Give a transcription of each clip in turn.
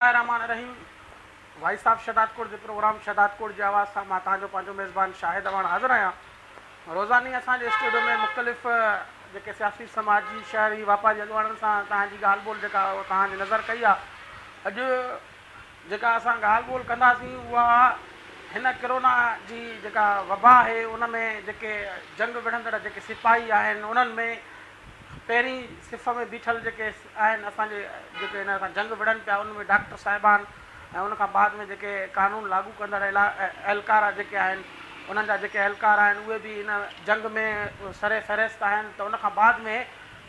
الرحمان الرحيم voice of Shahdadkot جي programme Shahdadkot جي آواز سان مان توھان جو پنھنجو ميزبان شاھد اواڻ حاضر آھيان روزاني اسان جي اسٽوڊيو ۾ مختلف جيڪي سياسي سماجي شھري واپاري اڳواڻن سان توھان جي ڳالھ ٻولھ جيڪا توھان جي نظر ڪئي آ اڄ جيڪا اسان ڳالھ ٻولھ ڪنداسين اها هن ڪرونا جي جيڪا وبا آهي ان ۾ جيڪي جنگ وڙهندڙ جيڪي سپاهي آهن انهن ۾ پهرين صف ۾ بيٺل جيڪي آهن اسان جي جيڪي ان سان جنگ وڙهن پيا ان ۾ ڊاڪٽر صاحبان ۽ ان کان بعد ۾ جيڪي قانون لاڳو ڪندڙ اهلڪار جيڪي آهن انهن جا جيڪي اهلڪار آهن اهي به ان جنگ ۾ سر فهرست آهن ته ان کان بعد ۾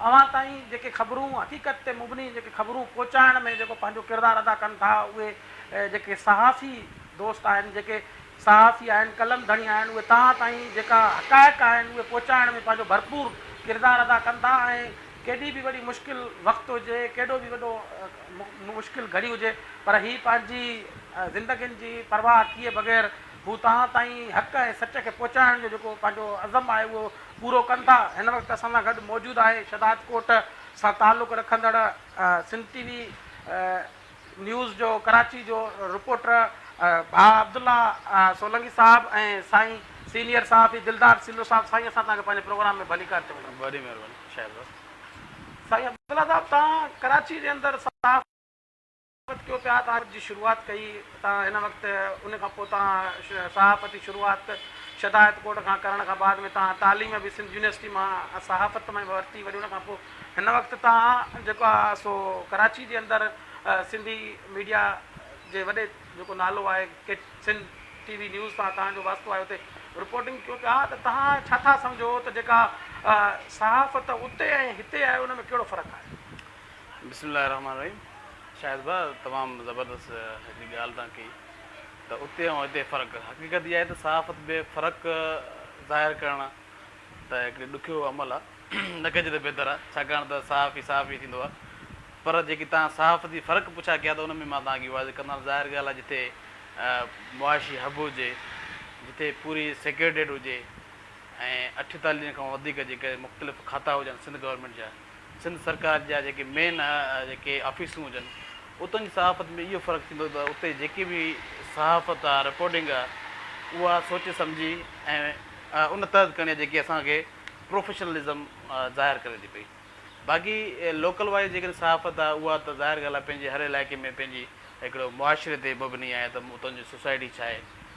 اوهان تائين جيڪي خبرون حقيقت تي مبني جيڪي خبرون پهچائڻ ۾ جيڪو پنهنجو ڪردار ادا ڪن ٿا اهي جيڪي صحافي دوست آهن جيڪي صحافي آهن، قلم ڌڻي آهن، اهي توهان تائين جيڪا حقائق آهن اهي پهچائڻ ۾ پنهنجو ڀرپور ڪردار ادا ڪندا ۽ ڪيڏي به وڏي مشڪل وقت هجي، ڪيڏو به وڏو مشڪل گهڙي هجي پر هي پنهنجي زندگين جي پرواهه ڪيئي بغير هو توهان تائين حق ۽ سچ کي پهچائڻ جو جيڪو پنهنجو عزم آهي اهو پورو ڪندا. هن وقت اسان سان گڏ موجود آهي شهدادڪوٽ سان تعلق رکندڙ سنڌ ٽي وي نيوز جو ڪراچي جو رپورٽر ڀاء عبدالله سولنگي صاحب ۽ سائين سينيئر صحافي دلدار سيلو صاحب سائين اسان توهان کي پنهنجي پروگرام ۾ ڀليڪار چون ٿا. وڏي مهرباني شايد بس. سائين عبدالله صاحب توهان ڪراچي جي اندر صحافت ڪيو پيا صحافت جي شروعات ڪئي توهان هن وقت ان کان پوء توهان صحافت جي شروعات شدائت ڪوٽ کان ڪرڻ کان بعد ۾ توهان تعليم به سنڌ يونيورسٽي مان صحافت مان ورتي وري ان کان پوء هن وقت تان جيڪو آهي سو ڪراچي جي اندر سنڌي ميڊيا جي وڏي جيڪو نالو آهي ڪيٽ سنڌ ٽي وي نيوز سان تان جو واسطو آهي اتي رپورٽنگ ڪيو پيا ته تان ڇا ٿا سمجهو ته جيڪا صحافت اتي ۽ هتي آهي ان ۾ ڪهڙو فرق آهي. بسم الله الرحمٰن الرحيم شاهد ڀاء تمام زبردست هڪڙي ڳالهه تان ڪئي ته اتي ۽ هتي فرق حقيقت اها آهي ته صحافت ۾ فرق ظاهر ڪرڻ ته هڪڙي ڏکيو عمل آ. نه ڪجي ته بهتر آ، ڇاڪاڻ ته صحافي صحافي ٿيندو آ. پر جيڪي توهان صحافتي فرق پڇا ڪيا ته ان ۾ مان توهان کي واضح ڪندان. ظاهر ڳالهه آ جتي معاشي حب هجي، جتي پوري سيڪريٽريٽ هجي ۽ اٺتاليهن کان وڌيڪ جيڪڏهن مختلف کاتا هجن سنڌ گورنمينٽ جا، سنڌ سرڪار جا جيڪي مين جيڪي آفيسون هجن اتن جي صحافت ۾ اهو فرق ٿيندو ته اتي جيڪي به صحافت آ رپورٽنگ آ اها سوچي سمجهي ۽ ان تحت ڪرڻي آ جيڪي اسان کي پروفيشنلزم ظاهر ڪري ٿي پئي باقي لوڪل وائز جيڪڏهن صحافت آ اها ته ظاهر ڳالهه آ پنهنجي هر علائقي ۾ پنهنجي هڪڙو معاشري تي مبني آهي ته اتن جي سوسائٽي ڇا آهي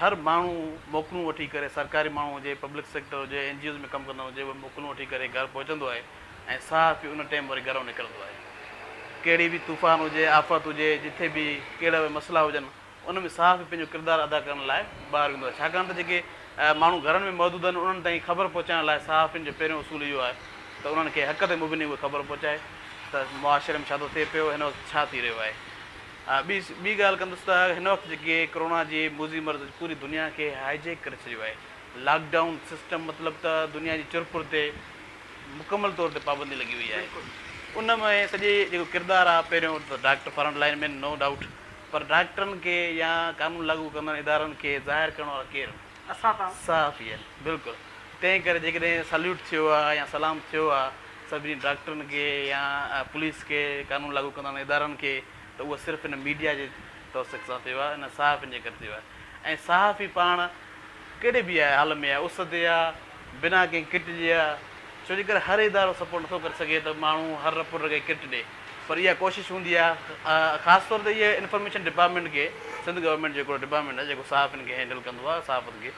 هر ماڻهو موڪلون وٺي ڪري سرڪاري ماڻهو هجي، پبلڪ سيڪٽر هجي، اين جي اوز ۾ ڪم ڪندڙ هجي اهو موڪلون وٺي ڪري گهر پهچندو آهي ۽ صحافي ان ٽيم وري گهرئون نڪرندو آهي. ڪهڙي به طوفان هجي، آفت هجي، جٿي به ڪهڙا به مسئلا هجن ان ۾ صحافي پنهنجو ڪردار ادا ڪرڻ لاء ٻاهر ويندو آهي ڇاڪاڻ ته جيڪي ماڻهو گهرن ۾ موجود آهن انهن تائين خبر پهچائڻ لاء صحافين جو پهريون اصول اهو آهي ته انهن کي حق تي مبني اهي خبر پهچائي ته معاشري ۾ ڇا ٿو ٿئي پيو هن وقت ڇا ٿي رهيو آهي. ٻي ٻي ڳالهه ڪندس ته هن وقت جيڪي ڪرونا جي موذي مرض پوري دنيا کي هائي جيڪ ڪري ڇڏيو آهي. لاڪ ڊائون سسٽم مطلب ته دنيا جي چر پور تي مڪمل طور تي پابندي لڳي وئي آهي. ان ۾ سڄي جيڪو ڪردار آهي پهريون ته doctor front line man no doubt پر ڊاڪٽرن کي يا قانون لاڳو ڪندڙ ادارن کي ظاهر ڪرڻ وارا ڪير آهن؟ صحافي آهن بلڪل تنهن ڪري جيڪڏهن سليوٽ ٿيو آ يا سلام ٿيو آ سڀني ڊاڪٽرن کي يا پوليس کي قانون لاڳو ڪندڙ ادارن کي ته اهو صرف هن ميڊيا جي توثيق سان ٿيو آ انهن صحافين جي ڪري ٿيو آ ۽ صحافي پاڻ ڪهڙي به آ حال ۾ آ اس تي آ بنا ڪنهن ڪٽ جي آ ڇو جي ڪر هر ادارو سپورٽ نٿو ڪري سگهي ته ماڻهو هر رپ پٽ کي ڪٽ ڏي پر اها ڪوشش هوندي آ خاص طور تي اهي انفارميشن ڊپارٽمينٽ کي سنڌ گورنمينٽ جو هڪڙو ڊپارٽمينٽ آ جيڪو صحافين کي هينڊل ڪندو آ صحافت کي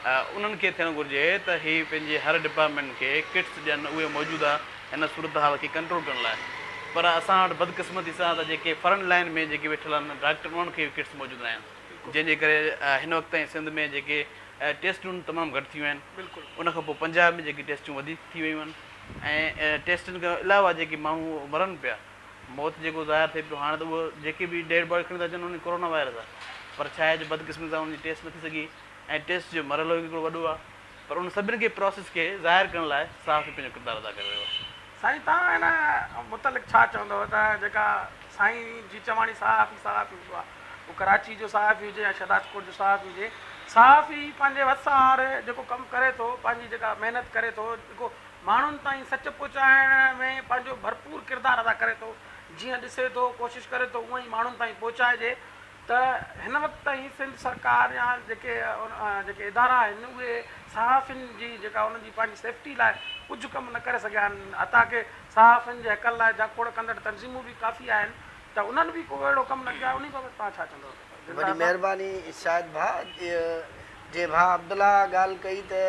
انهن کي ٿيڻ گهرجي ته هي پنهنجي هر ڊپارٽمينٽ کي ڪٽس ڏين اهي موجوده هن صورتحال کي ڪنٽرول ڪرڻ لاء پر اسان وٽ بدقسمتي سان ته جيڪي فرنٽ لائين ۾ جيڪي ويٺل آهن ڊاڪٽر انهن کي ڪٽس موجود ناهن. جنهن جي ڪري هن وقت تائين سنڌ ۾ جيڪي ٽيسٽون تمام گهٽ ٿيون آهن ان کان پوء پنجاب ۾ جيڪي ٽيسٽون وڌيڪ ٿي ويون آهن ۽ ٽيسٽن کان علاوه جيڪي ماڻهو مرن پيا موت جيڪو ظاهر ٿئي پيو هاڻ ته اهو جيڪي به ڊيڊ باڊي کڻي ٿا اچن انهن ڪورونا وائرس آهي پر ڇا آهي جو بدقسمتي سان انهن جي ٽيسٽ نٿي سگهي ۽ ٽيسٽ جو مرحلو هڪڙو وڏو آهي پر ان سڀني کي پراسيس کي ظاهر ڪرڻ لاء صحافي پنهنجو ڪردار ادا ڪري رهيو آهي. سائين توهان ان متعلق ڇا چوندؤ ته جيڪا سائين جي چواڻي صحافي صحافي هوندو آهي هو ڪراچي جو صحافي هجي يا شهدادڪوٽ جو صحافي هجي صحافي پنهنجي وس آهر جيڪو ڪم ڪري ٿو پنهنجي جيڪا محنت ڪري ٿو جيڪو ماڻهن تائين سچ پهچائڻ ۾ پنهنجو ڀرپور ڪردار ادا ڪري ٿو جيئن ڏسي ٿو ڪوشش ڪري ٿو اونئن ئي ماڻهن تائين پهچائجي ته هن وقت تائين سنڌ سرڪار يا جيڪي جيڪي ادارا آهن اهي صحافين جي جيڪا انهن جي پنهنجي سيفٽي لاء ڪجهه ڪم نه ڪري سگهيا آهن حتيٰ ڪي صحافين جي حقن لاء جاکوڙ ڪندڙ تنظيمون به ڪافي آهن ته انهن به ڪو اهڙو ڪم نه ڪيو آهي انهي بابت توهان ڇا چوندو دلدار وڏي صاحب. مهرباني شاهد ڀاء جي ڀاء عبدالله اها ڳالهه ڪئي ته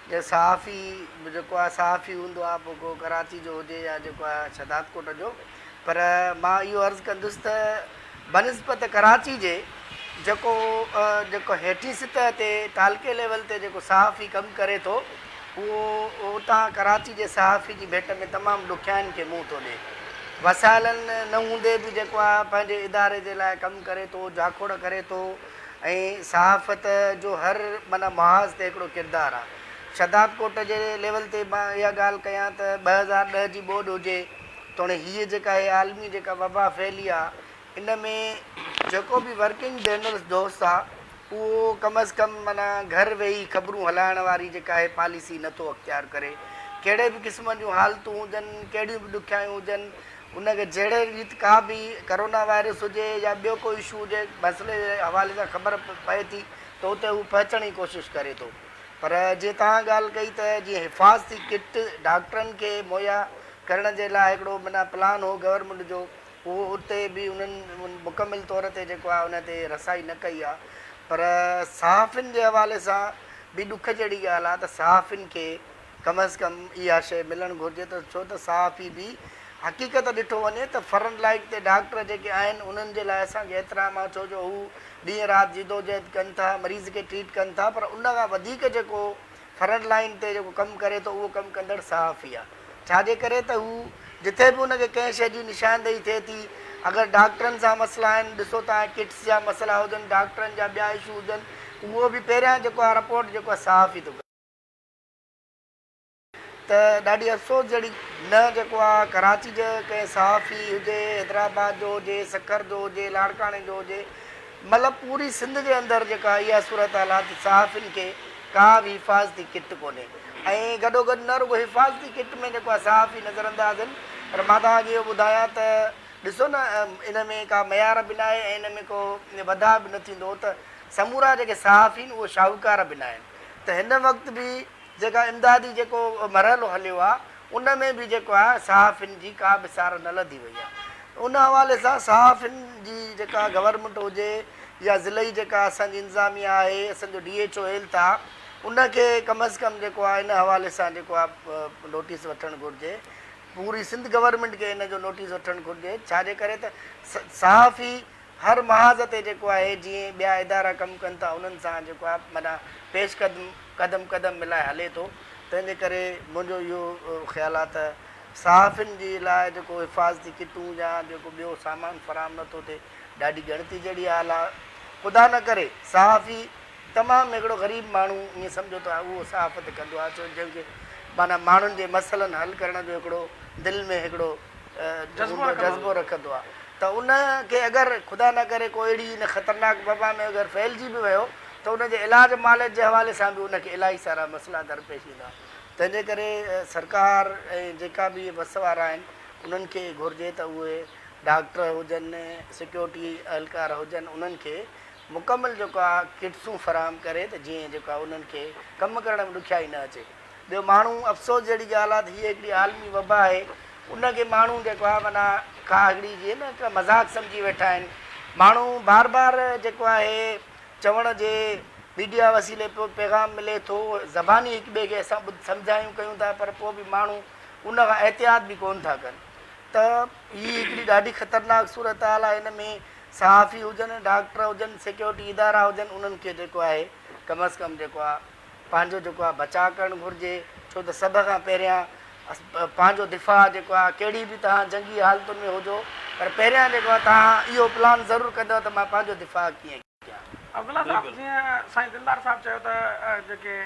جي صحافي جيڪو آهي صحافي هوندو آهي پوء ڪو ڪراچي جو هجي يا جيڪو آهي شهدادڪوٽ جو پر مان اهو عرض ڪندس ته بنسبت ڪراچي جي جيڪو جيڪو هيٺين سطح تي تعلقي ليول تي جيڪو صحافي ڪم ڪري ٿو اهو اتان ڪراچي جي صحافي جي ڀيٽ ۾ تمام ڏکيائين کي منهن ٿو ڏي وسائلن نه هوندي به جيڪو آ پنهنجي اداري جي لاء ڪم ڪري ٿو جاکوڙ ڪري ٿو ۽ صحافت جو هر معنيٰ محاذ تي هڪڙو ڪردار آ شھدادڪوٽ جي ليول تي مان اها ڳالھ ڪيان ته ٻه هزار ڏهه جي ٻوڏ هجي توڻي هيء جيڪا هيء عالمي جيڪا وبا ڦهلي آ، ان ۾ جيڪو به ورڪنگ جرنلسٽ دوست آ، اهو ڪم از ڪم معنيٰ گهر ويهي خبرون هلائڻ واري جيڪا هيء پاليسي نه ٿو اختيار ڪري. ڪهڙي به قسم جون حالتون هجن، ڪهڙيون به ڏکيائيون هجن، ان کي جهڙي ريت ڪا به ڪرونا وائرس هجي يا ٻيو ڪو اشو هجي، مسئلي جي حوالي سان خبر پئي ٿي ته اتي هو پهچڻ جي ڪوشش ڪري ٿو. پر جيئن توهان ڳالهه ڪئي ته جيئن حفاظتي ڪٽ ڊاڪٽرن کي مهيا ڪرڻ جي لاء هڪڙو معنيٰ پلان هو گورنمينٽ جو اهو اتي به انهن مڪمل طور تي جيڪو آهي ان تي رسائي نه ڪئي آهي پر صحافين جي حوالي سان به ڏک جهڙي ڳالهه آهي ته صحافين کي ڪم از ڪم اها شيء ملڻ گهرجي ته ڇو ته صحافي به حقيقت ڏٺو وڃي ته فرنٽ لائيٽ تي ڊاڪٽر جيڪي آهن انهن جي لاء اسان کي احترام آهي ڇو جو هو ڏينهن رات جدوجهد ڪن ٿا مريض کي ٽريٽ ڪن ٿا پر ان کان وڌيڪ جيڪو فرنٽ لائين تي جيڪو ڪم ڪري ٿو اهو ڪم ڪندڙ صحافي آهي ڇا جي ڪري ته هو جتي به ان کي ڪنهن شيء جي نشاندهي ٿئي ٿي اگر ڊاڪٽرن سان مسئلا آهن ڏسو تان ڪٽس جا مسئلا هجن ڊاڪٽرن جا ٻيا اشو هجن اهو به پهريان جيڪو آهي رپورٽ جيڪو آهي صحافي ٿو ڪري. ته ڏاڍي افسوس جهڙي نه جيڪو آ ڪراچي جي ڪنهن صحافي هجي حيدرآباد جو هجي سکر جو هجي لاڙڪاڻي جو هجي مطلب پوري سنڌ جي اندر جيڪا اها صورت حال آ ته صحافين کي ڪا به حفاظتي ڪٽ ڪونهي ۽ گڏو گڏ نه رڳو حفاظتي ڪٽ ۾ جيڪو آ صحافي نظر انداز هن پر مان توهان کي اهو ٻڌايان ته ڏسو نه ان ۾ ڪا معيار به ناهي ۽ ان ۾ ڪو وڌاء به نه ٿيندو ته سمورا جيڪي صحافين اهو شاهوڪار به ناهن. ته هن وقت به جيڪا امدادي جيڪو مرحلو هليو آهي ان ۾ به جيڪو آهي صحافين جي ڪا به سار نه لڌي وئي آهي ان حوالي سان صحافين جي جيڪا گورنمينٽ هجي يا ضلعي جيڪا اسان جي انظاميا آهي اسان جو ڊي ايڇ او هيلٿ آهي ان کي ڪم از ڪم جيڪو آهي ان حوالي سان جيڪو آهي نوٽيس وٺڻ گهرجي پوري سنڌ گورنمينٽ کي ان جو نوٽيس وٺڻ گهرجي ڇا جي ڪري ته صحافي هر محاذ تي جيڪو آهي جيئن ٻيا ادارا ڪم ڪن ٿا انهن سان جيڪو آهي معنيٰ پيش قدم قدم قدم ملائي هلي ٿو تنهن جي ڪري منهنجو اهو خيال آهي ته صحافين جي لاء جيڪو حفاظتي ڪٽون يا جيڪو ٻيو سامان فراهم نه ٿو ٿئي ڏاڍي ڳڻتي جهڙي حال آهي خدا نه ڪري صحافي تمام هڪڙو غريب ماڻهو ائين سمجهو ته اهو صحافت ڪندو آهي جنهن کي معنيٰ ماڻهن جي مسئلن حل ڪرڻ جو هڪڙو دل ۾ هڪڙو جذبو رکندو آ ته ان کي اگر خدا نه ڪري ڪو اهڙي ان خطرناڪ وبا ۾ اگر ڦهلجي به ويو ته ان جي علاج معالج جي حوالي سان به ان کي الاهي سارا مسئلا درپيش ايندا تنهن جي ڪري سرڪار ۽ جيڪا به اهي بس وارا آهن انهن کي گهرجي ته اهي ڊاڪٽر هجن سيڪيورٽي اهلڪار هجن انهن کي مڪمل جيڪو آ ڪٽسون فراهم ڪري ته جيئن جيڪو آ انهن کي ڪم ڪرڻ ۾ ڏکيائي نه اچي. ٻيو ماڻهو افسوس جهڙي ڳالهه آهي ته هيء هڪڙي عالمي وبا آهي ان کي ماڻهو جيڪو آهي معنيٰ ڪا هڪڙي جيئن نه ڪا مذاق سمجهي ويٺا آهن ماڻهو بار بار جيڪو آهي چوڻ جي ميڊيا وسيلي پيو پيغام ملي ٿو زباني هڪ ٻئي کي اسان سمجهايون ڪيون ٿا پر پوء به ماڻهو ان کان احتياط به ڪونه ٿا ڪن ته هي هڪڙي ڏاڍي خطرناڪ صورتحال آهي هن ۾ صحافي هجن ڊاڪٽر هجن سيڪيورٽي ادارا هجن انهن کي جيڪو آهي ڪم از ڪم جيڪو آهي پنهنجو جيڪو آهي بچاء ڪرڻ گهرجي ڇو ته سڀ کان پهريان پنهنجو دفاع جيڪو آهي ڪهڙي به توهان جنگي حالتن ۾ هجو پر پهريان جيڪو آهي توهان اهو پلان ضرور ڪندو ته مان پنهنجو دفاع ڪيئن ڪيان. عبدالله صاحب جيئن سائين دلدار صاحب چيو ته جيڪي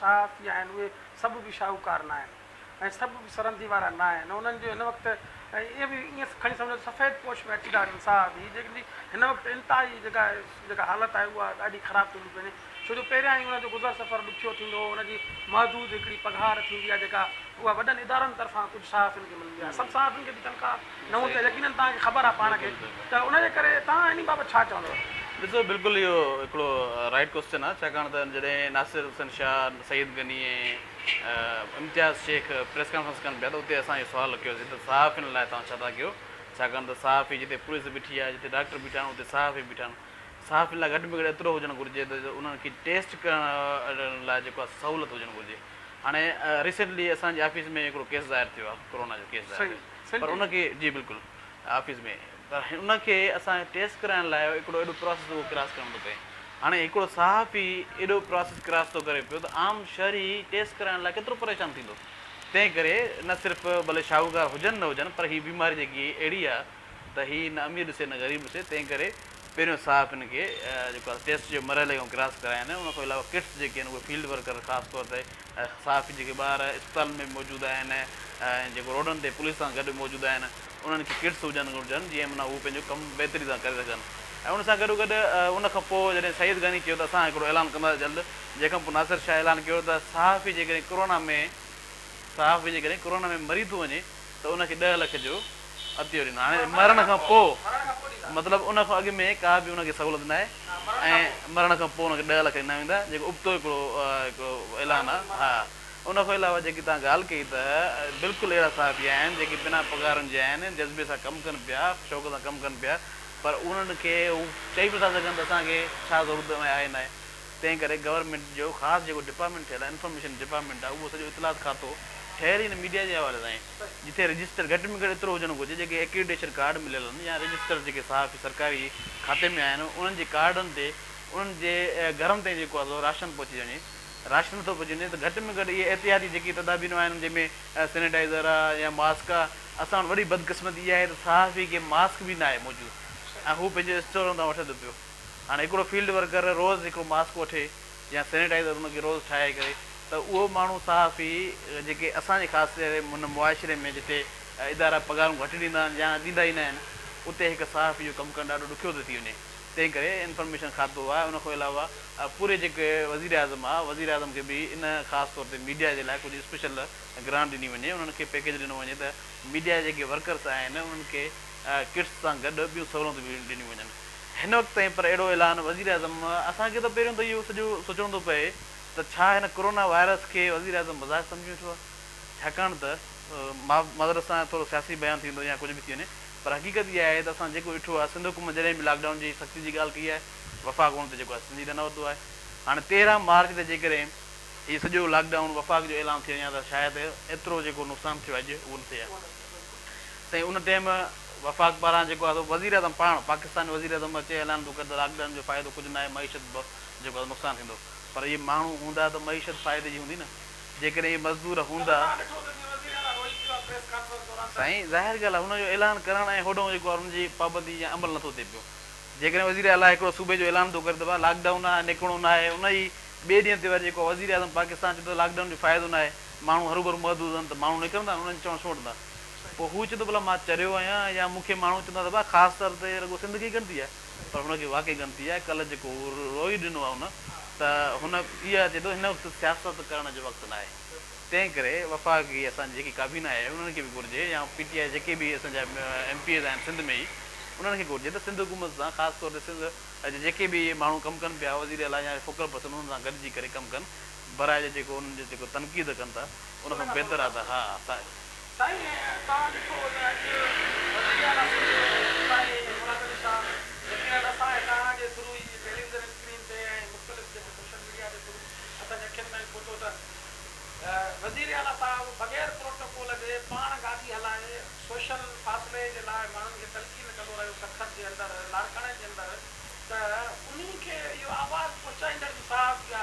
صحافي آهن اهي سڀ به شاهوڪار ناهن. ۽ سڀ به سرندي وارا ناهن. انهن جو هن وقت اهي به ائين کڻي سمجهو ته سفيد پوش ۾ اچيندا آهن انسان به جن جي هن وقت انتهائي جيڪا جيڪا حالت آهي اها ڏاڍي خراب ٿيندي وڃي ڇو جو پهريان ئي انهن جو گذر سفر ڏکيو ٿيندو هو انهن جي محدود هڪڙي پگهار ٿيندي آهي جيڪا اها وڏن ادارن طرفان ڪجهه صحافين کي ملندي آهي سڀ صحافين کي به تنخواه نه هوندي آهي يقينن توهان کي خبر آهي پاڻ کي ته ان جي ڪري توهان انهي بابت ڇا چوندو. ڏسو بلڪل اهو هڪڙو رائيٽ ڪوسچن آهي ڇاڪاڻ ته جڏهن ناصر حسين شاهه، سعيد غني ۽. امتياز شيخ پريس ڪانفرنس ڪرڻ پيا ته اتي اسان اهو سوال رکيوسين ته صحافين لاء توهان ڇا ٿا ڪيو؟ ڇاڪاڻ ته صحافي جتي پوليس بيٺي آهي، جتي ڊاڪٽر بيٺا آهن، اتي صحافي بيٺا آهن. صحافين لاء گهٽ ۾ گهٽ ايترو هجڻ گهرجي ته انهن کي ٽيسٽ ڪرڻ لاء جيڪو آهي سهولت هجڻ گهرجي. هاڻي ريسينٽلي اسان جي آفيس ۾ هڪڙو ڪيس ظاهر ٿيو آهي، ڪورونا جو ڪيس ظاهر ٿيو پر ان کي جي بلڪل آفيس ۾ ته ان کي اسان کي ٽيسٽ ڪرائڻ لاء هڪڙو اهڙو پراسيس اهو ڪراس ڪرڻو ٿو پئي. هاڻي هڪڙو صحافي اهڙو پراسيس ڪراس ٿو ڪري پيو ته عام شهري ٽيسٽ ڪرائڻ لاء ڪيترو پريشان ٿيندو. تنهن ڪري نه صرف ڀلي شاهوڪار هجن نه هجن پر هي بيماري جيڪي اهڙي آ ته هي نه امير ڏسي نه غريب ڏسي تنهن ڪري پهريون صحافين کي جيڪو آ ٽيسٽ جي مرحلي کان ڪراس ڪرائين. ان کان علاوه ڪٽس جيڪي آهن اهي فيلڊ ورڪر خاص طور تي صحافين جيڪي ٻاهر اسپتالن ۾ به موجود آهن ۽ جيڪو روڊن تي پوليس سان گڏ موجود آهن انهن کي ڪٽس هجڻ گهرجن جيئن معنيٰ هو پنهنجو ڪم بهتري سان ڪري سگهن ۽ ان سان گڏو گڏ ان کان پوء جڏهن سعيد غني چيو ته اسان هڪڙو اعلان ڪنداسين جلد جنهن کان پوء ناصر شاهه اعلان ڪيو ته صحافي جيڪڏهن ڪورونا ۾ صحافي جيڪڏهن ڪورونا ۾ مري ٿو وڃي ته ان کي ڏهه لک جو عطيو ڏنو. هاڻي مرڻ کان پوء مطلب ان کان اڳ ۾ ڪا به ان کي سهولت ناهي ۽ مرڻ کان پوء ان کي ڏهه لک ڏنا ويندا جيڪو ابتو هڪڙو اعلان آهي. ها ان کان علاوه جيڪي توهان ڳالهه ڪئي ته بلڪل اهڙا صحافي آهن جيڪي بنا پگهارن جي آهن جذبي سان ڪم ڪن پيا شوق سان ڪم ڪن پيا پر انهن کي هو چئي به نٿا سگهن ته اسان کي ڇا ضرورت آهي ناهي. تنهن ڪري گورنمينٽ جو خاص جيڪو ڊپارٽمينٽ ٺهيل آهي انفارميشن ڊپارٽمينٽ آهي اهو سڄو اطلاعات کاتو ٺهيل ئي نه ميڊيا جي حوالي سان آهي جتي رجسٽر گهٽ ۾ گهٽ ايترو هجڻ گهرجي جيڪي ايڪريڊيشن ڪارڊ مليل آهن يا رجسٽر جيڪي صحافي سرڪاري کاتي ۾ آهن انهن جي ڪارڊن تي انهن جي گهرن تائين جيڪو آهي سو راشن پهچي وڃي راشن نٿو پهچي وڃي ته گهٽ ۾ گهٽ اهي احتياطي جيڪي تدابيرون آهن جنهن ۾ سينيٽائزر آهي يا ماسڪ آهي اسان وٽ وڏي بدقسمتي اها آهي ته صحافي کي ماسڪ به نه آهي موجود ۽ هو پنهنجو اسٽورن تان وٺي ٿو پيو هاڻي هڪڙو فيلڊ ورڪر روز هڪڙو ماسڪ وٺي يا سينيٽائيزر ان کي روز ٺاهي ڪري ته اهو ماڻهو صحافي جيڪي اسان جي خاص ڪري هن معاشري ۾ جتي ادارا پگهارون گهٽ ڏيندا آهن يا ڏيندا ئي نه آهن اتي هڪ صحافي جو ڪم ڪرڻ ڏاڍو ڏکيو ٿو ٿي وڃي تنهن ڪري انفارميشن کاتو آهي ان کان علاوه پوري جيڪي وزير اعظم آهي وزير اعظم کي به ان خاص طور تي ميڊيا جي لاء ڪجهه اسپيشل گرانٽ ڏني وڃي انهن کي پيڪيج ڏنو وڃي ته ميڊيا جا جيڪي ورڪرس آهن انهن کي ڪٽس سان گڏ ٻيون سهولتون به ڏنيون وڃن. هن وقت تائين پر اهڙو اعلان وزيراعظم اسان کي ته پهريون ته اهو سڄو سوچڻو ٿو پئي ته ڇا هن ڪورونا وائرس کي وزيراعظم مذاق سمجهي ويٺو آهي ڇاڪاڻ ته معذرت سان ٿورو سياسي بيان ٿي ويندو يا ڪجهه به ٿي وڃي پر حقيقت اها آهي ته اسان جيڪو ڏٺو آهي سنڌ حڪومت جڏهن به لاڪ ڊائون جي سختي جي ڳالهه ڪئي آهي وفاق ان تي جيڪو آهي سنجيده نه ورتو آهي هاڻي تيرهن مارچ تي جيڪڏهن هي سڄو لاڪ ڊائون وفاق جو اعلان ٿي وڃي ها ته شايد ايترو جيڪو نقصان ٿيو آهي اڄ اهو نه ٿئي ها. سائين ان ٽيم وفاق پاران جيڪو آهي سو وزيراعظم پاڻ پاڪستان جو وزيراعظم اچي اعلان ٿو ڪري ته لاڪ ڊائون جو فائدو ڪجهه ناهي معيشت به جيڪو آهي نقصان ٿيندو پر اهي ماڻهو هوندا ته معيشت فائدي جي هوندي نه جيڪڏهن اهي مزدور هوندا. سائين ظاهر ڳالهه آهي ان جو اعلان ڪرڻ ۽ هوڏانهون جيڪو آهي ان جي پابندي يا عمل نٿو ٿئي پيو جيڪڏهن وزير اعليٰ هڪڙو صوبي جو اعلان ٿو ڪري ته ڀاء لاڪ ڊائون آهي نڪرڻو ناهي ان ئي ٻئي ڏينهن تي وري جيڪو آهي وزيراعظم پاڪستان چوي ٿو ته لاڪ ڊائون جو فائدو ناهي ماڻهو هروڀرو محدود هئن ته ماڻهو نڪرندا ۽ انهن جي چوڻ سوٽ هوندا. پوء هو چوندو ڀلا مان چريو آهيان يا مون کي ماڻهو چوندا ته ڀاء خاص طور تي رڳو سنڌ کي ئي ڳڻتي آهي پر هن کي واقعي ڳڻتي آهي ڪلهه جيڪو روئي ڏنو آهي هن ته هن اها چئي ٿو هن وقت سياست ڪرڻ جو وقت ناهي تنهن ڪري وفاقي اسان جي جيڪي ڪابينا آهي انهن کي به گهرجي يا پي ٽي آئي جيڪي به اسان جا ايم پي ايز آهن سنڌ ۾ ئي انهن کي گهرجي ته سنڌ حڪومت سان خاص طور تي سنڌ جا جيڪي به ماڻهو ڪم ڪن پيا وزيراعليٰ يا فوڪل پرسن انهن سان گڏجي ڪري ڪم ڪن براء جا جيڪو انهن جي جيڪو تنقيد ڪن ٿا ان کان بهتر آهي ته ها سائين. سائين توهان ڏٺو ته اڄ وزير اعلٰي سنڌ سائين مراد علي شاهه يقينن اسان ۽ توهان جي ٿرو ئي ٽيليوزن اسڪرين تي ۽ مختلف جيڪي سوشل ميڊيا جي ٿرو اسان جي اکين تائين پهتو ته وزير اعلٰي صاحب بغير پروٽوڪول جي پاڻ گاڏي هلائي سوشل فاصلي جي لاء ماڻهن کي تلقين ڪندو رهيو سرخط جي اندر لاڙڪاڻي جي اندر ته انهي کي اهو آواز پهچائيندڙ به صاحب يا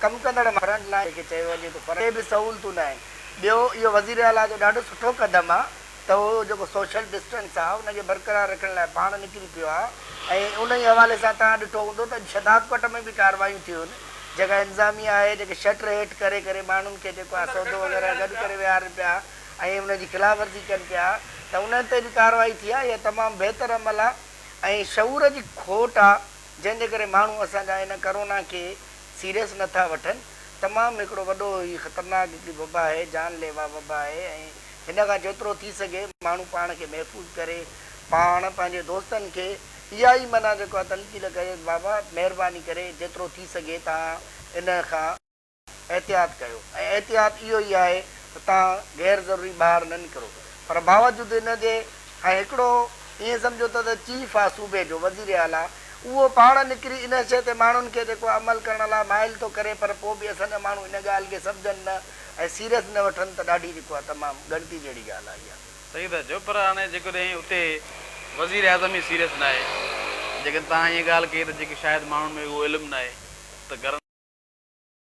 ڪم ڪندڙ فرنٽ لائين کي چيو وڃي ته فرنٽ تي به سهولتون نه آهن ٻيو اهو وزير اعليٰ جو ڏاڍو سٺو قدم آهي ته هو جيڪو سوشل ڊسٽنس آهي ان کي برقرار رکڻ لاء پاڻ نڪري پيو آهي ۽ انهي حوالي سان توهان ڏٺو هوندو ته اڄ شهداد ڪوٽ ۾ به ڪارروايون ٿيون جيڪا انتظاميه آهي جيڪي شٽر هيٺ ڪري ڪري ماڻهن کي جيڪو آهي سودو وغيره گڏ ڪري ويهارين پيا ۽ انهن جي خلاف ورزي ڪن پيا ته انهن تي به ڪارروائي ٿي آهي اها تمام بهتر عمل آهي ۽ شعور جي کوٽ آهي جنهن جي ڪري ماڻهو اسان جا ان ڪرونا کي سيريس نه ٿا وٺن، تمام هڪڙو وڏو هي خطرناڪ هڪڙي وبا آهي، جان ليوا وبا آهي ۽ هن کان جيترو ٿي سگهي ماڻهو پاڻ کي محفوظ ڪري، پاڻ پنهنجي دوستن کي اها ئي معنيٰ جيڪو آهي تنقيد ڪري ته بابا مهرباني ڪري جيترو ٿي سگهي توهان ان کان. احتياط ڪيو ۽ احتياط اهو ئي آهي ته توهان غير ضروري ٻاهر نه نڪرو پر باوجود ان جي ۽ هڪڙو ائين سمجهو ته ته چيف آ صوبي جو وزير اعليٰ اهو پاڻ نڪري ان شيء تي ماڻهن کي جيڪو عمل ڪرڻ لاء مائل ٿو ڪري پر پوء به اسان جا ماڻهو ان ڳالهه کي سمجهن نه ۽ سيريس نه وٺن ته ڏاڍي جيڪو آ تمام ڳڻتي جهڙي ڳالهه آ اها. صحيح ٿا چئو پر هاڻي جيڪڏهن اتي وزير اعظم ئي سيريس ناهي جيڪڏهن توهان ائين ڳالهه ڪئي ته جيڪي شايد ماڻهن ۾ اهو علم ناهي ته گھرن.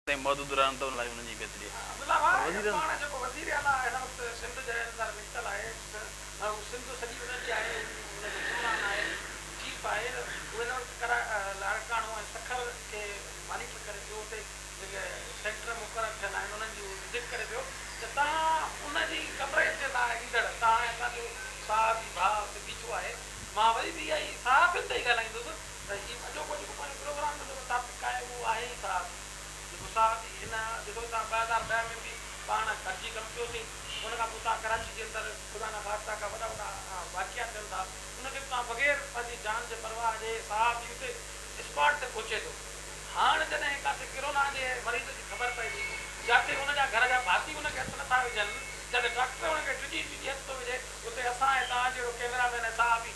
تائين محدود رهن ته ان لاء انهن جي بهتري آهي پر وزيرن عبدالله واري جي پاڻ جيڪو وزير اعليٰ هن وقت سنڌ جي اندر نڪتل آهي ته هو سنڌ سڄي انهن جي آهي ان جو حڪمران آهي چيف آهي ته هو هن وقت ڪرا لاڙڪاڻو ۽ سکر کي مانيٽر ڪري پيو اتي جيڪي سينٽر مقرر ٿيل آهن انهن جي هو وزٽ ڪري پيو ته توهان ان جي ڪوريج جي لاء ايندڙ توهان ۽ اسان جو صحافي ڀاء اتي بيٺو آهي مان وري به اها ئي صحافين تي ئي ڳالهائيندس ته هي اڄوڪو جيڪو پنهنجو پروگرام هن مطابق آهي اهو آهي ئي صاحب جيڪو صاحب جي هن ڏسو تان ٻه هزار ڏهه ۾ به پاڻ گڏجي ڪم ڪيو سين ان کان پوء تان ڪراچي جي اندر خدا نه خاصتا ڪا وڏا وڏا واقعا ٿين ٿا ان کي به تان بغير پنهنجي جان جي پرواهه جي صاحب جي اتي اسپاٽ تي پهچي ٿو هاڻ جڏهن ڪاٿي ڪرونا جي مريض جي خبر پئي ٿي جاتي ان جا گهر جا ڀاتي ان کي هٿ نٿا وجهن جاتي ڊاڪٽر ان کي ڊڄي ڊڄي هٿ ٿو وجهي اتي اسان ۽ تان جهڙو ڪيمرا مين ۽ صاحب ئي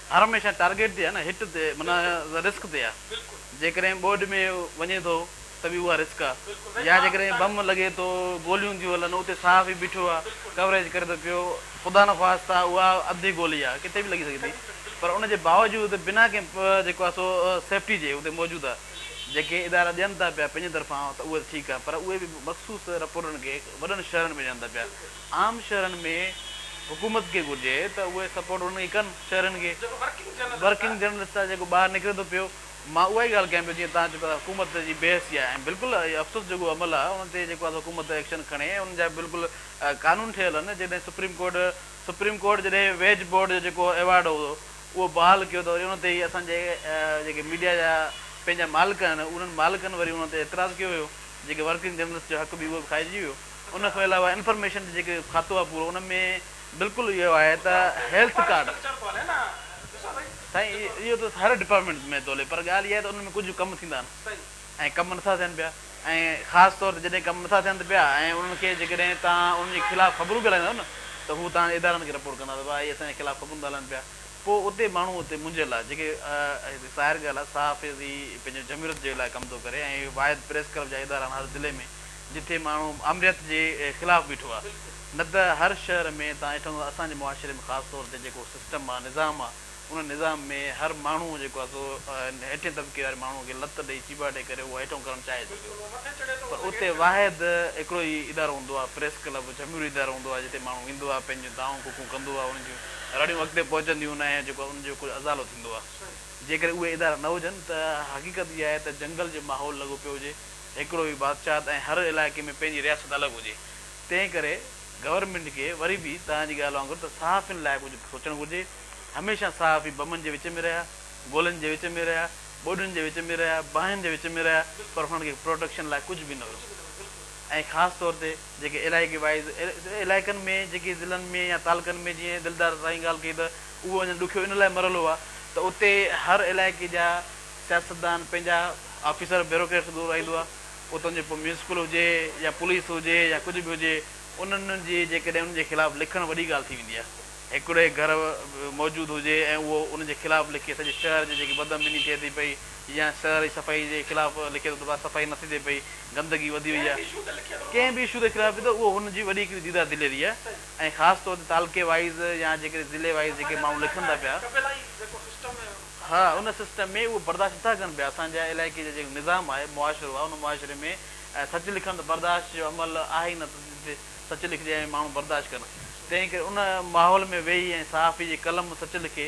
هر هميشه ٽارگيٽ تي آهي نه هٽ تي معنيٰ رسڪ تي آهي جيڪڏهن ٻوڏ ۾ وڃي ٿو ته به اها رسڪ آهي يا جيڪڏهن بم لڳي ٿو گوليون ٿيون هلن اتي ساهه به بيٺو آهي ڪوريج ڪري ٿو پيو خدا نه خواستہ اها اڌي گولي آهي ڪٿي به لڳي سگهي ٿي پر ان جي باوجود بنا ڪنهن جيڪو آهي سو سيفٽي جي اتي موجود آهي جيڪي ادارا ڏين ٿا پيا پنهنجي طرفان ته اهو ته ٺيڪ آهي پر اهي به مخصوص رپورٽن کي وڏن شهرن ۾ ڏين ٿا پيا عام شهرن ۾ حڪومت کي گهرجي ته اهي سپورٽ انهن کي ڪن شهرين کي جيڪو ورڪنگ جرنلسٽ ورڪنگ جرنلسٽ آهي جيڪو ٻاهر نڪري ٿو پيو مان اها ئي ڳالهه ڪيان پيو جيئن تهان چيو ته حڪومت جي بي حسي آهي ۽ بلڪل اهي افسوس جوڳو عمل آهي انهن تي جيڪو آهي سو حڪومت ايڪشن کڻي ۽ انهن جا بلڪل قانون ٺهيل آهن جڏهن سپريم ڪورٽ سپريم ڪورٽ جڏهن ويج بورڊ جو جيڪو ايوارڊ هو اهو بحال ڪيو ته وري انهن تي اسان جي جيڪي ميڊيا جا پنهنجا مالڪ آهن انهن مالڪن وري انهن تي اعتراض ڪيو هيو جيڪي ورڪنگ جرنلسٽ جو حق به اهو به کائجي ويو ان کان علاوه انفارميشن جو جيڪو کاتو آهي پورو ان ۾ بلڪل اهو آهي ته هيلٿ ڪارڊ سائين اهو ته هر ڊپارٽمينٽ ۾ ٿو هلي پر ڳالهه اها آهي ته ان ۾ ڪجهه ڪم ٿيندا آهن ۽ ڪم نٿا ٿين پيا ۽ خاص طور تي جڏهن ڪم نٿا ٿين ته پيا ۽ انهن کي جيڪڏهن تان ان جي خلاف خبرون به هلائيندو نه ته هو تان ادارن کي رپورٽ ڪندا ته بابا هي اسان جي خلاف خبرون ٿا هلائن پيا پوء اتي ماڻهو اتي منجهيل آهي جيڪي ظاهر ڳالهه آهي صحافي پنهنجو جمهوريت جي لاء ڪم ٿو ڪري ۽ واحد پريس ڪلب جا ادارا هر ضلعي ۾ جتي ماڻهو آمريت جي خلاف بيٺو آ نه ته هر شهر ۾ تان ڏٺو هوندو اسان جي معاشري ۾ خاص طور تي جيڪو سسٽم آ نظام آ ان نظام ۾ هر ماڻهو جيڪو آ سو هيٺين طبقي واري ماڻهو کي لت ڏئي چيڀاٽي ڪري اهو هيٺون ڪرڻ چاهي ٿو پيو پر اتي واحد هڪڙو ئي ادارو هوندو آ پريس ڪلب جهميرو ادارو هوندو آ جتي ماڻهو ايندو آ پنهنجون دانهون ڪوڪون ڪندو آ ان جون رڙيون اڳتي پهچنديون نه ۽ جيڪو ان جو ڪجهه ازالو ٿيندو آ جيڪڏهن اهي ادارا نه هجن ته حقيقت اها آهي ته جنگل جو ماحول لڳو پيو هجي هڪڙو ئي بادشاهت ۽ هر علائقي ۾ پنهنجي رياست الڳ هجي تنهن ڪري گورنمينٽ کي وري به توهان جي ڳالهه وانگر ته صحافين لاء ڪجهه به سوچڻ گهرجي هميشه صحافي بمن جي وچ ۾ رهيا گولين جي وچ ۾ رهيا ٻوڏين جي وچ ۾ رهيا باهين جي وچ ۾ رهيا پر هنن کي پروٽيڪشن لاء ڪجهه به نه هيو ۽ خاص طور تي جيڪي علائقي وائيز علائقن ۾ جيڪي ضلعن ۾ يا تعلقن ۾ جيئن دلدار سائين ڳالهه ڪئي ته اهو اڃا ڏکيو ان لاء مرحلو آهي ته اتي هر علائقي جا سياستدان پنهنجا آفيسر بيوروڪريٽس گهرو رائيندو آهي اتان جي پوء ميونسپل هجي يا پوليس هجي يا ڪجهه به هجي انهن جي جيڪڏهن انهن جي خلاف لکڻ وڏي ڳالهه ٿي ويندي آهي هڪڙي گهر موجود هجي ۽ اهو انهن جي خلاف لکي سڄي شهر جي جيڪي بدامني ٿئي ٿي پئي يا شهر جي صفائي جي خلاف لکي ٿو ته ڀاء صفائي نه ٿي ٿئي پئي گندگي وڌي وئي آهي ڪنهن به اشو تي خلاف لکي ٿو اهو هن جي وڏي هڪڙي ديده دليري آهي ۽ خاص طور تي تعلقي وائيز يا جيڪڏهن ضلعي وائيز جيڪي ماڻهو لکن ٿا پيا. ها ان سسٽم ۾ اهو برداشت نٿا ڪن پيا اسان جا علائقي جا جيڪو نظام آهي معاشرو آهي ان معاشري ۾ سچ لکن ته برداشت جو عمل آهي ئي نه ته جتي سچ لکجي ۽ ماڻهو برداشت ڪن تنهن ڪري ان ماحول ۾ ويهي ۽ صحافي جي قلم سچ لکي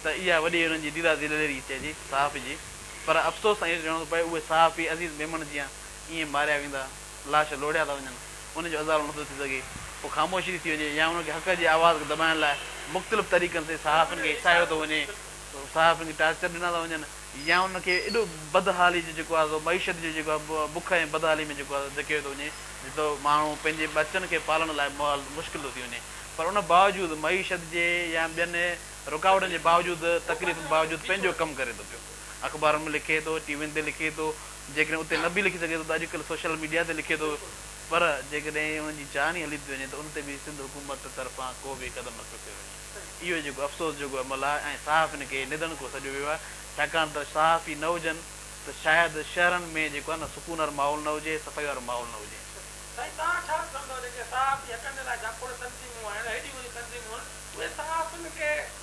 ته اها وڏي انهن جي ديده دليري چئجي صحافي جي پر افسوس سان اهو چوڻو ٿو پوي اهي صحافي عزيز ميمڻ جيان ائين ماريا ويندا لاش لوڙهيا ٿا وڃن، ان جو ازالو نٿو ٿي سگهي، پوء خاموشي ٿي وڃي يا انهن کي حق جي آواز کي دٻائڻ لاء مختلف طريقن سين صحافين کي هيسايو ٿو وڃي، صحافين کي ٽارچر ڏنا ٿا وڃن يا انهن کي ايڏو بدحالي جو جيڪو آهي سو معيشت جو جيڪو آهي بک ۽ بدحالي ۾ جيڪو آهي سو ڌڪيو ٿو وڃي جو ماڻهو پنهنجي ٻچن کي پالڻ لاء ماحول مشڪل ٿو ٿي وڃي پر ان باوجود معيشت جي يا ٻين رڪاوٽن جي باوجود تڪليفن باوجود پنهنجو ڪم ڪري ٿو پيو اخبارن ۾ لکي ٿو ٽي وين تي لکي ٿو جيڪڏهن اتي نه به لکي سگهي ٿو ته اڄڪلهه سوشل ميڊيا تي لکي ٿو پر جيڪڏهن ان جي چاهڻي هلي ٿي وڃي ته ان تي به سنڌ حڪومت طرفان ڪو به قدم نٿو کنيو وڃي. اهو جيڪو افسوس جوڳو عمل آهي ۽ صحافين کي نڌڻڪو سڏيو ويو آهي ڇاڪاڻ ته صحافي نه هجن ته شايد شهرن ۾ جيڪو آهي نه سڪون وارو ماحول نه هجي صفائي وارو ماحول نه هجي. سائين توهان ڇا سمجهندا جيڪي صحافي حقن جي لاء جاکوڙ تنظيمون آهن هيڏيون وڏيون تنظيمون آهن اهي صحافين کي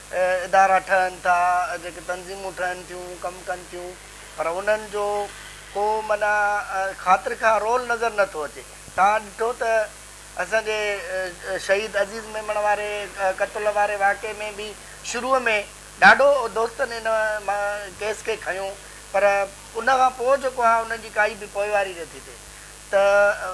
ادارا ٺهن ٿا، جيڪي تنظيمون ٺهن ٿيون، ڪم ڪن ٿيون پر انهن جو ڪو معنيٰ خاطر خواهه رول نظر نه ٿو اچي. توهان ڏٺو ته اسان جي شهيد عزيز ميمڻ واري قتل واري واقعي ۾ به شروع ۾ ڏاڍو دوستن ان ڪيس کي کنيو پر ان کان پوء جيڪو آهي انهن جي ڪائي به پوئواري نه ٿي ٿئي ته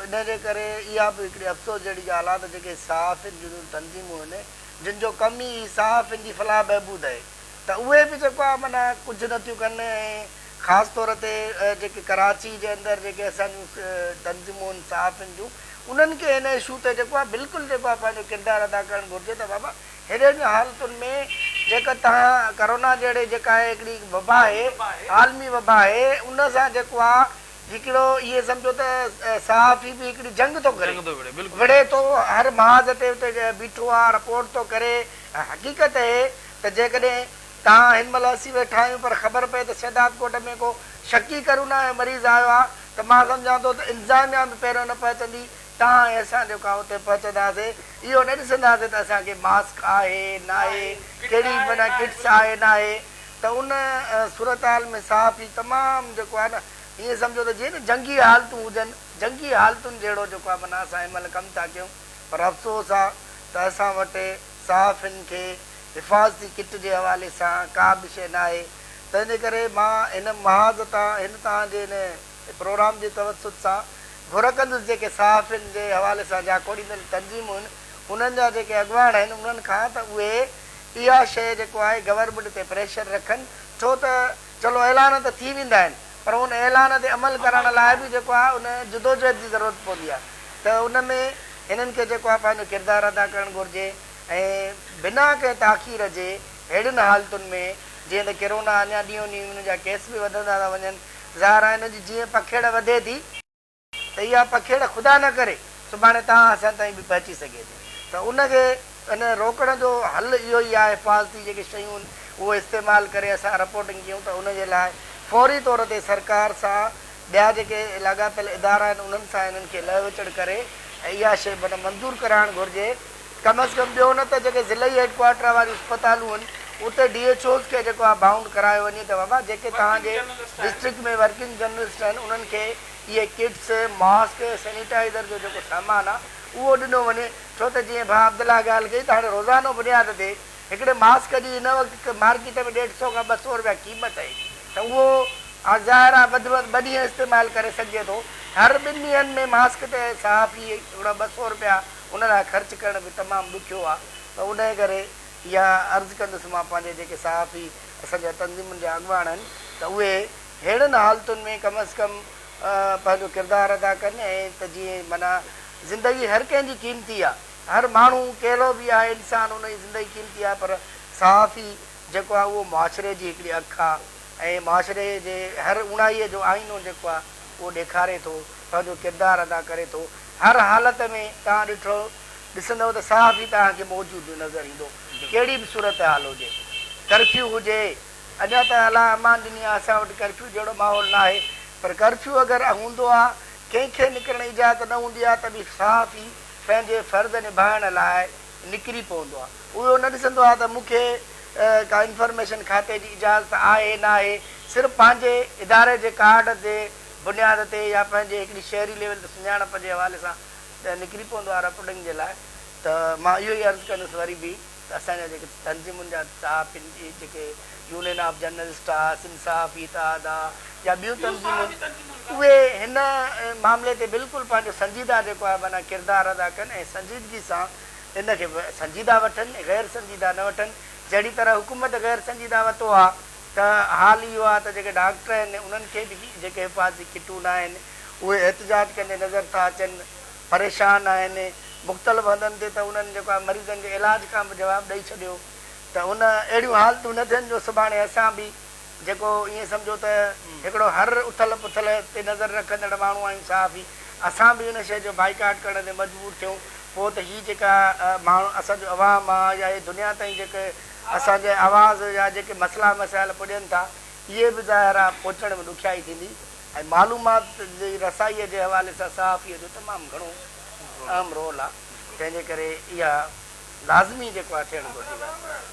ان جي ڪري اها به هڪڙي افسوس جهڙي ڳالهه آهي ته جيڪي صحافين جون تنظيمون هن جن جو ڪم ئي صحافين جي فلاح بهبود آهي ته اهي به جيڪو آهي معنيٰ ڪجهه نه ٿيون ڪن ۽ خاص طور تي جيڪي ڪراچي جي اندر جيڪي اسان جون تنظيمون آهن صحافين جون انهن کي هن اشو تي جيڪو آهي بلڪل جيڪو آهي پنهنجو ڪردار ادا ڪرڻ گهرجي ته بابا ههڙين حالتن ۾ جيڪا توهان ڪرونا جهڙي جيڪا آهي هڪڙي وبا آهي عالمي وبا آهي ان سان جيڪو آهي هڪڙو اهي سمجهو ته صحافي به هڪڙي جنگ ٿو ڪري. وڙهي ٿو، هر محاذ تي اتي بيٺو آهي، رپورٽ ٿو ڪري. ۽ حقيقت اهي ته جيڪڏهن توهان هن مهل اسين ويٺا آهيون پر خبر پئي ته شهداد ڪوٽ ۾ ڪو شڪي ڪرونا جو مريض آيو آهي ته مان سمجهان ٿو ته انتظاميا به پهريون نه پهچندي، توهان ۽ اسان جيڪا اتي پهچنداسين اهو نه ڏسنداسين ته اسان کي ماسڪ آهي ناهي، ڪهڙي معنيٰ ڪٽس آهي ناهي، ته ان صورتحال ۾ صحافي تمام جيڪو آهي نه ائين سمجهو ته جيئن نه جنگي حالتون هجن، جنگي حالتن جهڙو جيڪو آهي معنيٰ اسان هن مهل ڪم ٿا ڪيون پر افسوس آهي ته اسان وٽ صحافين کي حفاظتي ڪٽ جي حوالي سان ڪا به شيء ناهي تنهنجي ڪري مان هن محاذ تان هن توهان جي هن پروگرام جي توسط سان گهر ڪندس جيڪي صحافين جي حوالي سان جاکوڙيندڙ تنظيمون آهن انهن جا جيڪي اڳواڻ آهن انهن کان ته اهي اها شيء جيڪو آهي گورنمينٽ تي پريشر رکن ڇو ته چلو اعلان ته ٿي ويندا آهن پر ان اعلان تي عمل ڪرڻ لاء به جيڪو آهي ان جدوجهد جي ضرورت پوندي آهي ته ان ۾ هنن کي جيڪو آهي پنهنجو ڪردار ادا ڪرڻ گهرجي ۽ بنا ڪنهن تاخير جي ههڙين حالتن ۾ جيئن ته ڪرونا اڃا ڏينهون ڏينهن ان جا ڪيس به وڌندا ٿا وڃن ظاهر آهي ان جي جيئن پکيڙ وڌي ٿي ته اها پکيڙ خدا نه ڪري سڀاڻي توهان اسان تائين به پهچي سگهي ٿي ته ان کي ان روڪڻ جو حل اهو ئي آهي حفاظتي جيڪي شيون آهن اهو استعمال ڪري اسان رپورٽنگ ڪيون ته ان جي لاء فوري طور تي سرڪار سان ٻيا جيڪي لاڳاپيل ادارا آهن انهن سان انهن کي لهه وچڙ ڪري ۽ اها شيء معنيٰ منظور ڪرائڻ گهرجي ڪم از ڪم ٻيو نه ته جيڪي ضلعي هيڊ ڪوارٽر واريون اسپتالون آهن اتي ڊي ايڇ اوز کي جيڪو آهي بائونڊ ڪرايو وڃي ته بابا جيڪي توهان جي ڊسٽرڪٽ ۾ ورڪنگ جرنلسٽ آهن انهن کي اهي ڪٽس، ماسڪ، سينيٽائيزر جو جيڪو سامان آهي اهو ڏنو وڃي ڇو ته جيئن ڀاء عبدالله ڳالهه ڪئي ته هاڻي روزانو بنياد تي هڪڙي ماسڪ جي هن وقت مارڪيٽ ۾ ڏيڍ سئو کان ٻه سئو رپيا قيمت آهي ته اهو هاڻي ظاهر آهي وڌ ۾ وڌ ٻه ڏينهن استعمال ڪري سگهجي ٿو هر ٻن ڏينهن ۾ ماسڪ تي صحافي هڪڙا ٻه سئو رپيا ان لاء خرچ ڪرڻ به تمام ڏکيو آهي ته انهي ڪري اها عرض ڪندس مان پنهنجي جيڪي صحافي اسان جا تنظيمن جا اڳواڻ آهن ته اهي ههڙن حالتن ۾ ڪم از ڪم پنهنجو ڪردار ادا ڪن ۽ ته جيئن معنيٰ زندگي هر ڪنهن جي قيمتي آ هر ماڻهو ڪهڙو به آهي انسان ان جي زندگي قيمتي آهي پر صحافي جيڪو آ اهو معاشري جي هڪڙي اک آ ۽ معاشري جي هر اوڻائي جو آئينو جيڪو آ اهو ڏيکاري ٿو پنهنجو ڪردار ادا ڪري ٿو هر حالت ۾ توهان ڏٺو ڏسندو ته صحافي توهان کي موجود نظر ايندو ڪهڙي به صورتحال هجي ڪرفيو هجي. ادا ته الله امان ڏني آ اسان وٽ ڪرفيو جهڙو ماحول ناهي پر ڪرفيو اگر هوندو آ ڪنهن کي نڪرڻ اجازت نه هوندي آ ته به صحافي پنهنجي فرض نڀائڻ لاء نڪري پوندو آ اهو نه ڏسندو آ ته مون کي ڪا انفارميشن کاتي جي اجازت آهي ناهي صرف پنهنجي اداري جي ڪارڊ جي بنياد تي يا پنهنجي هڪڙي شهري ليول تي سڃاڻپ جي حوالي سان نڪري پوندو آ رپورٽنگ جي لاء ته مان اهو ئي عرض ڪندس وري به ته اسان جا جيڪي تنظيمن جا صحافين جي جيڪي يونين آف جرنلسٽ آ، سنڌ صحافي اتحاد آ يا ٻيون تنظيمون اهي هن معاملي تي بلڪل پنهنجو سنجيده جيڪو آهي معنيٰ ڪردار ادا ڪن ۽ سنجيدگي سان ان کي سنجيده وٺن غير سنجيده نه وٺن جهڙي طرح حڪومت غير سنجيده وتو آ ته حال اهو آ ته جيڪي ڊاڪٽر آهن انهن کي به جيڪي حفاظتي ڪٽون آهن اهي احتجاج ڪندي نظر ٿا اچن. پريشان آهن، مختلف هنڌن تي ته انهن جيڪو آهي مريضن جي علاج کان به جواب ڏئي ڇڏيو ته ان اهڙيون حالتون نه ٿين جو سڀاڻي اسان به جيڪو ائين سمجهو ته هڪڙو هر اٿل پٿل تي نظر رکندڙ ماڻهو آهيون صحافي اسان به ان شيء جو بائيڪاٽ ڪرڻ تي مجبور ٿيون پوء ته هي جيڪا ماڻهو اسان جو عوام آهي يا هي دنيا تائين جيڪي اسان جي آواز يا جيڪي مسئلا مسائل پڄن ٿا اهي به ظاهر آهي پهچڻ ۾ ڏکيائي ٿيندي. ۽ معلومات جي رسائيء جي حوالي سان صحافيء جو تمام گهڻو اهم رول آ تنهن جي ڪري اها لازمي جيڪو آ ٿيڻ گهرجي ها.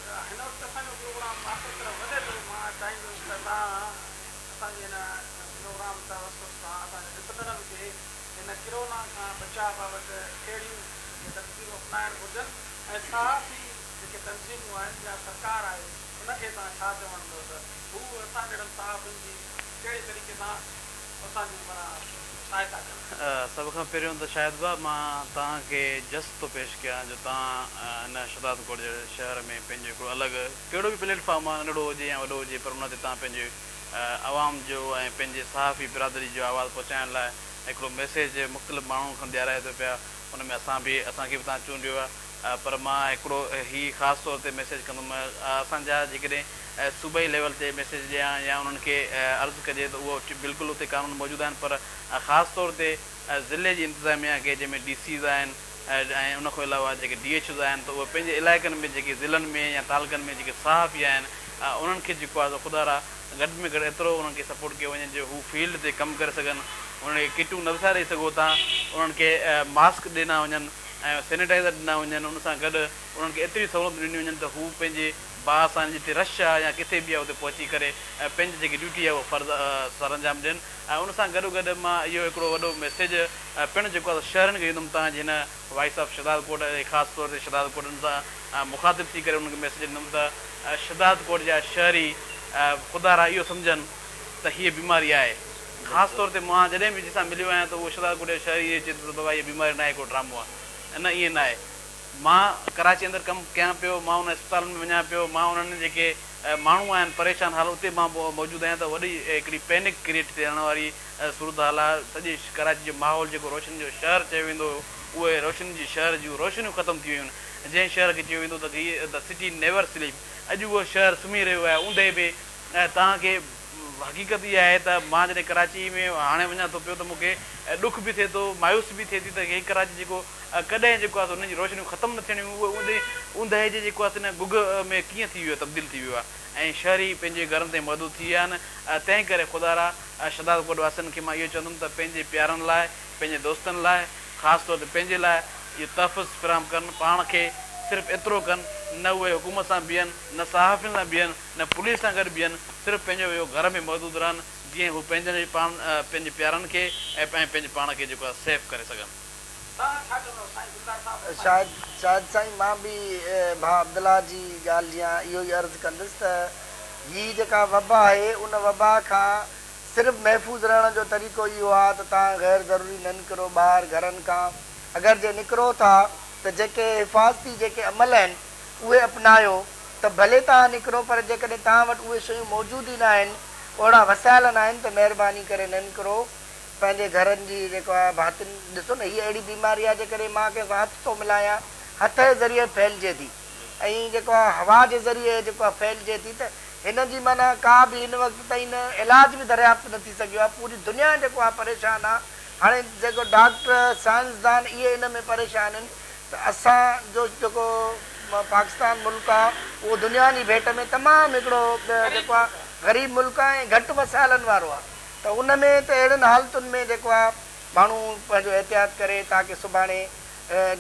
ڪهڙي طريقي سان اسان جي معنيٰ سهائتا ڪن. سڀ کان پهريون ته شاهد ڀاء مان توهان کي جسٽ ٿو پيش ڪيان جو توهان هن شهداد ڪوٽ جهڙي شهر ۾ پنهنجو هڪڙو الڳ ڪهڙو به پليٽ فارم آهي ننڍڙو هجي يا وڏو هجي پر ان تي توهان پنهنجي عوام جو ۽ پنهنجي صحافي برادري جو آواز پهچائڻ لاء هڪڙو ميسيج مختلف ماڻهن کڻ ڏيارائي ٿو پيا ان ۾ اسان به اسان کي به توهان چونڊيو آهي پر مان هڪڙو هي خاص طور تي ميسيج ڪندم اسان جا جيڪڏهن صوبائي ليول تي ميسيج ڏيان يا انهن کي عرض ڪجي ته اهو بلڪل اتي قانون موجود آهن پر خاص طور تي ضلعي جي انتظاميا کي جنهن ۾ ڊي سيز آهن ۽ ان کان علاوه جيڪي ڊي ايڇ اوز آهن ته اهي پنهنجي علائقن ۾ جيڪي ضلعن ۾ يا تعلقن ۾ جيڪي صحافي آهن انهن کي جيڪو آهي سو خدا را گهٽ ۾ گهٽ ايترو انهن کي سپورٽ ڪيو وڃي جو هو فيلڊ تي ڪم ڪري سگهن انهن کي ڪٽون نه ڏساري سگهو تان انهن کي ماسڪ ڏنا وڃن. ۽ سينيٽائيزر ڏنا وڃن، ان سان گڏ انهن کي ايتريون سهولتون ڏنيون وڃن ته هو پنهنجي باهه سان جتي رش آهي يا ڪٿي به آهي اتي پهچي ڪري ۽ پنهنجي جيڪي ڊيوٽي آهي اهو فرض سرانجام ڏين ۽ ان سان گڏوگڏ مان اهو هڪڙو وڏو ميسيج پڻ جيڪو آهي سو شهرين کي ڏيندم تان جي هن وائيس آف شهداد ڪوٽ ۽ خاص طور تي شهداد ڪوٽن سان مخاطب ٿي ڪري انهن کي ميسيج ڏيندم ته شهداد ڪوٽ جا شهري خدارا اهو سمجهن ته هيء بيماري آهي خاص طور تي مان جڏهن به جنهن سان مليو آهيان ته اهو شهزاد ڪوٽيا شاهه ائين چئي ٿو ته بابا هيء بيماري ناهي ڪو ڊرامو آهي ۽ نه ائين ناهي مان ڪراچي اندر ڪم ڪيان پيو مان انهن اسپتالن ۾ وڃان پيو مان انهن جيڪي ماڻهو آهن پريشان حال اتي مان موجود آهيان ته وڏي هڪڙي پينڪ ڪريٽ ٿيڻ واري صورتحال آهي سڄي ڪراچي جو ماحول جيڪو روشنين جو شهر چيو ويندو هو اهي روشنين جي شهر جون روشنيون ختم ٿي ويون آهن جنهن شهر کي چيو ويندو ته هي The City Never Sleep اڄ اهو شهر سمهي رهيو آهي اوندهي به توهان کي حقيقت اها آهي ته مان جڏهن ڪراچي ۾ هاڻي وڃان ٿو پيو ته مون کي ڏک به ٿئي ٿو، مايوسي به ٿئي ٿي ته هي ڪراچي جيڪو ڪڏهن جيڪو آهي سو ان جون روشنيون ختم نه ٿيڻيون هيون اهو اوندهه جي جيڪو آهي سو ان گگهه ۾ ڪيئن ٿي ويو آهي تبديل ٿي ويو آهي ۽ شهري پنهنجي گهرن تائين محدود ٿي ويا آهن تنهن ڪري خدا را شهداد ڪوٽ واسين کي مان اهو چوندم ته پنهنجي پيارن لاء پنهنجي دوستن لاء خاص طور تي پنهنجي لاء اهو تحفظ فراهم ڪن پاڻ کي صرف ايترو ڪن نه اهي حڪومت سان بيهن نه صحافين سان بيهن نه پوليس سان گڏ بيهن، صرف پنهنجو اهو گهر ۾ محدود رهن، جيئن هو پنهنجن ۽ پنهنجي پيارن کي ۽ پنهنجي پاڻ کي جيڪو آهي سيف ڪري سگهن. شايد شايد سائين مان به ڀاء عبدالله جي ڳالهه جيان اهو ئي عرض ڪندس ته هي جيڪا وبا آهي ان وبا کان صرف محفوظ رهڻ جو طريقو اهو آهي ته توهان غير ضروري نه نڪرو ٻاهر گهرن کان اگر جي نڪرو ٿا ته جيڪي حفاظتي جيڪي عمل آهن اهي اپنايو ته ڀلي توهان نڪرو پر جيڪڏهن توهان وٽ اهي شيون موجود ئي ناهن، اهڙا وسايل ناهن ته مهرباني ڪري نه نڪرو. پنهنجي گهرن جي جيڪو آهي ڀاتين ڏسو نه هيء اهڙي بيماري آهي جنهن ڪري مان ڪنهن سان هٿ ٿو ملايان، هٿ جي ذريعي ڦهلجي ٿي ۽ جيڪو آهي هوا جي ذريعي جيڪو آهي ڦهلجي ٿي ته هن جي معنيٰ ڪا به هن وقت تائين علاج به دريافت نه ٿي سگهيو آهي پوري دنيا جيڪو آهي پريشان آهي هاڻي جيڪو ڊاڪٽر سائنسدان اهي ان ۾ پريشان آهن ته اسان جو جيڪو پاڪستان ملڪ آ اهو دنيا جي ڀيٽ ۾ تمام هڪڙو جيڪو آ غريب ملڪ آ ۽ گهٽ وسائلن وارو آ ته ان ۾ ته اهڙين حالتن ۾ جيڪو آ ماڻهو پنهنجو احتياط ڪري تاڪه سڀاڻي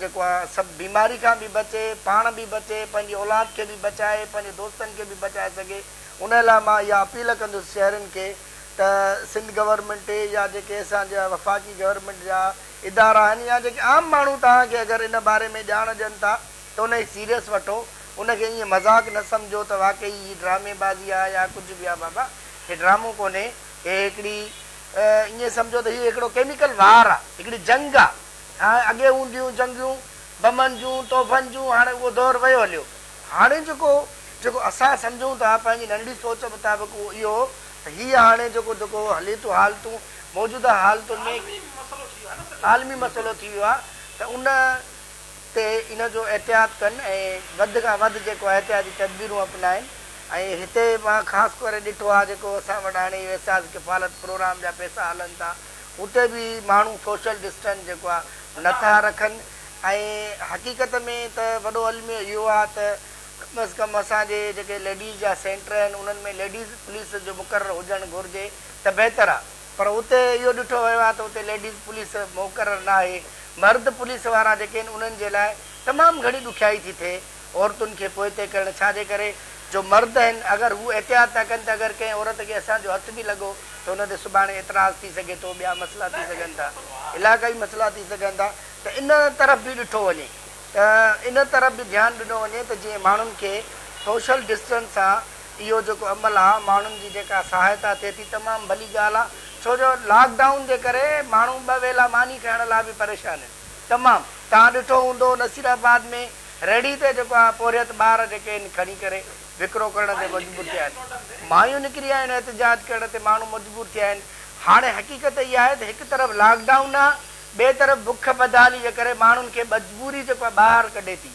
جيڪو آ سڀ بيماري کان به بچي پاڻ به بچي پنهنجي اولاد کي به بچائي پنهنجي دوستن کي به بچائي سگهي ان لاء مان اها اپيل ڪندس شهرين کي ته سنڌ گورنمينٽ يا جيڪي اسان جا وفاقي گورنمينٽ جا ادارا آهن يا جيڪي عام ماڻهو توهان کي اگر ان باري ۾ ڄاڻ ڏين ٿا ته ان کي سيريس وٺو ان کي ائين مذاق نه سمجهو ته واقعي هي ڊرامي بازي آهي يا ڪجهه به آهي بابا هي ڊرامو ڪونهي هي هڪڙي ائين سمجهو ته هي هڪڙو ڪيميڪل وار آهي هڪڙي جنگ آهي هاڻ اڳي هونديون جنگيون بمن جون توفن جون هاڻي اهو دور ويو هليو. هاڻي جيڪو جيڪو اسان سمجهون ٿا پنهنجي ننڍڙي سوچ مطابق اهو اهو ته هي هاڻي جيڪو جيڪو هلي ٿو حالتون موجوده حالتن ۾ عالمي مسئلو ٿي ويو آهي ته ان تي ان جو احتياط ڪن ۽ وڌ کان وڌ جيڪو احتياطي تدبيرون اپنائن ۽ هتي مان خاص ڪري ڏٺو آهي جيڪو اسان وٽ هاڻي اهي احساس ڪفالت پروگرام جا پئسا هلن ٿا اتي به ماڻهو سوشل ڊسٽنس جيڪو آهي نه ٿا رکن ۽ حقيقت ۾ ته وڏو الميو اهو آهي ته ڪم از ڪم اسان جي جيڪي ليڊيز جا سينٽر آهن انهن ۾ ليڊيز پوليس جو مقرر هجڻ گهرجي. ته بهتر آ پر اتي اهو ڏٺو ويو آ ته اتي ليڊيز پوليس موقرر ناهي، مرد پوليس وارا جيڪي آهن انهن جي لاء تمام گهڻي ڏکيائي ٿي ٿئي عورتن کي پوئتي ڪرڻ ڇا جي ڪري جو مرد آهن اگر هو احتياط ٿا ڪن ته اگر ڪنهن عورت کي اسان جو هٿ به لڳو ته ان تي سڀاڻي اعتراض ٿي سگهي ٿو ٻيا مسئلا ٿي سگهن ٿا علاقائي مسئلا ٿي سگهن ٿا ته ان طرف به ڏٺو وڃي ته ان طرف به ڌيان ڏنو وڃي ته جيئن ماڻهن کي سوشل ڊسٽنس سان اهو جيڪو عمل آ ماڻهن جي جيڪا سهائتا ٿئي ٿي تمام ڀلي ڳالهه آ ڇو جو لاڪ ڊائون جي ڪري ماڻهو ٻه ويلا ماني کائڻ لاء به پريشان آهن تمام توهان ڏٺو هوندو نصير آباد ۾ ريڙهي تي جيڪو آ پورهيت ٻار جيڪي آهن کڻي ڪري وڪرو ڪرڻ تي مجبور ٿيا آهن مايون نڪري آيون آهن احتجاج ڪرڻ تي ماڻهو مجبور ٿيا آهن هاڻي حقيقت اها آهي ته هڪ طرف لاڪ ڊائون آ ٻئي طرف بک بدحالي جي ڪري ماڻهن کي مجبوري جيڪو آ ٻاهر ڪڍي ٿي.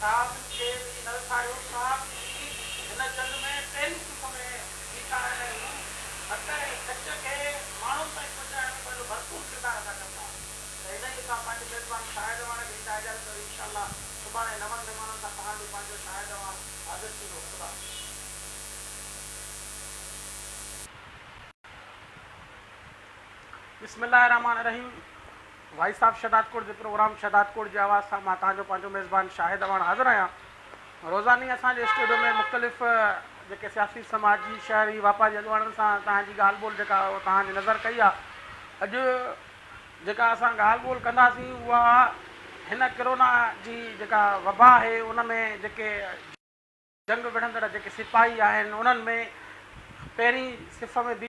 صاحب کي به نرسايو صاحب جي هن چل ۾ ٽن قسم بيٺا آهن ۽ هو مٽ ۽ سچ کي ماڻهن تائين پهچائڻ ۾ پنهنجو ڀرپور ڪردار ادا ڪن ٿا ته انهي سان پنهنجي ميزبان شاهد اعواڻ کي هيڏانهن اجازت وري انشاء الله سڀاڻي نون مهمانن سان پاڻ به پنهنجو شاهد اعواڻ حاضر ٿيندو خدا بسم الله الرحمٰن الرحيم. وائس آف شھدادڪوٽ جي پروگرام شھدادڪوٽ جي آواز سان مان توھان جو پنھنجو ميزبان شاھد اعواڻ حاضر آھيان. روزاني اسان جي اسٽوڊيو ۾ مختلف جيڪي سياسي، سماجي، شھري، واپاري اڳواڻن سان توھان جي ڳالھ ٻولھ جيڪا اھا توھان جي نظر ڪئي آ. اڄ جيڪا اسان ڳالھ ٻولھ ڪنداسين اھا ھن ڪرونا جي جيڪا وبا آھي ان ۾ جيڪي جنگ وڙھندڙ جيڪي سپاھي آھن انھن ۾ پھرين صف ۾ بيھي